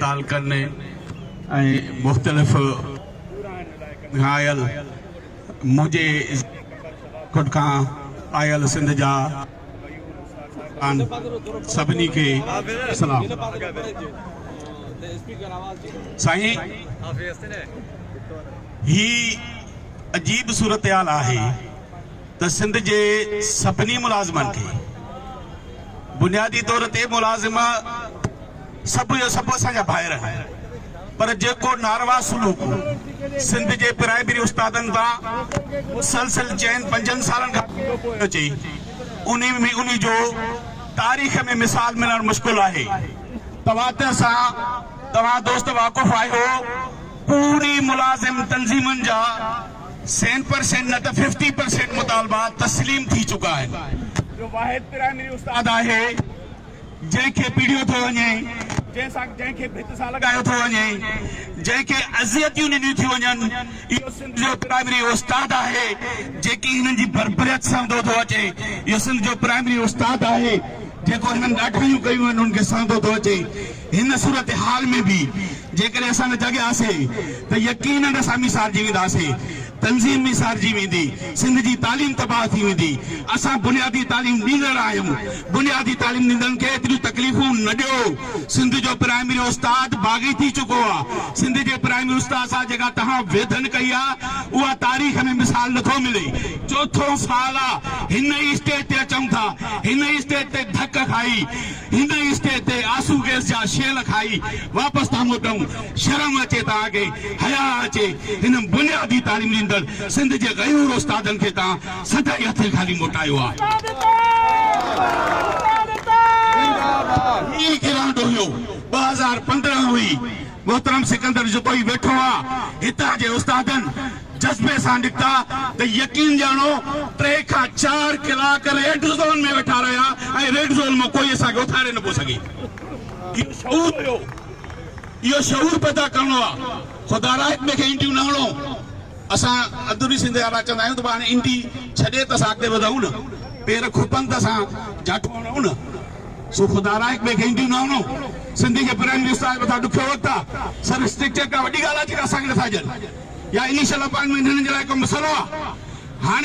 تعلقن ۽ مختلف گهرائل منهنجي خود کان آيل سنڌ جا ان سڀني کي سلام سائين هي عجيب صورتحال آهي ته سنڌ جي سڀني ملازمن کي بنيادي طور تي ملازم سڀ جو سڀ اسان جا ڀائر آهن پر جيڪو ناروا سلوڪ سنڌ جي پرائمري استادن تان مسلسل چئن پنجن سالن کان اچي انهي ۾ انهي جو تاريخ ۾ مثال ملڻ مشڪل آهي تواتر سان توهان دوست واقف آهيو پوري ملازم تنظيمن جا سين پرسينٽ نه ته ففٽي پرسينٽ مطالبا تسليم ٿي چڪا آهن جو واحد پرائمري استاد آهي جنهن کي پيڙيو ٿو وڃي جنهن سان جنهن کي ڀت سان لڳايو ٿو وڃي جنهن کي اذيتيون ڏنيون ٿيون وڃن اهو سنڌ جو پرائمري استاد آهي جيڪي هنن جي بربريت سهندو ٿو اچي اهو سنڌ جو پرائمري استاد آهي جيڪو هنن ڏاڍايون ڪيون آهن ان کي سهندو ٿو اچي. هن صورتحال ۾ به جيڪڏهن اسان نه جاڳياسين ته يقينن اسان به سارجي وينداسين، تنظيم به سارجي ويندي، سنڌ جي تعليم تباهه ٿي ويندي، اسان بنيادي تعليم ڏيندڙ آهيون، بنيادي تعليم ڏيندڙن کي ايتريون تڪليفون نه ڏيو، سنڌ جو پرائمري استاد باغي ٿي چڪو آ، سنڌ جي پرائمري استاد سان جيڪا توهان ويڌن ڪئي آ اها تاريخ ۾ مثال نه ٿو ملي، چوٿون سال آ هن ئي اسٽيج تي اچون ٿا، هن ئي اسٽيج تي ڌڪ کائي. هن اسٽيج تي آسو گيس جا شيل کائي واپس ٿا موٽون، شرم اچي توهان کي، حياء اچي هن بنيادي تعليم ڏيندڙ سنڌ جي غيور استادن کي توهان سدائين هٿين خالي موٽايو آهي. هي گرانڊ اوهيو ٻه هزار پندرهن هئي، محترم سڪندر جتوئي ويٺو آهي، هتان جي استادن جذبي سان نڪتا ته يقين ڄاڻو ٽي کان چار ڪلاڪ ريڊ زون ۾ ويٺا رهيا ۽ ريڊ زون مان ڪوئي اسان کي اٿاري نه پيو سگهي. اهو شعور هيو، اهو شعور پيدا ڪرڻو آ. خدا را اڳ ۾ کي انڊيون نه هڻو. اسان اندروني سنڌ جا اهڙا چوندا آهيون ته ڀاء هاڻي انڊي ڇڏي ته اسان اڳتي وڌون نه، پير کپن ته اسان جاٽو هڻون نه. سو خدا را هڪ ٻئي کي اينديون نه هنئو. سنڌي جي پرائم منسٽر صاحب هٿان ڏکيو وقت آ. سر اسٽرڪچر ڪا وڏي ڳالهه آ جيڪا اسان کي نٿا ڏين يا انيشل اپائنٽمينٽ هنن جي لاء ڪو مسئلو آ. هاڻي.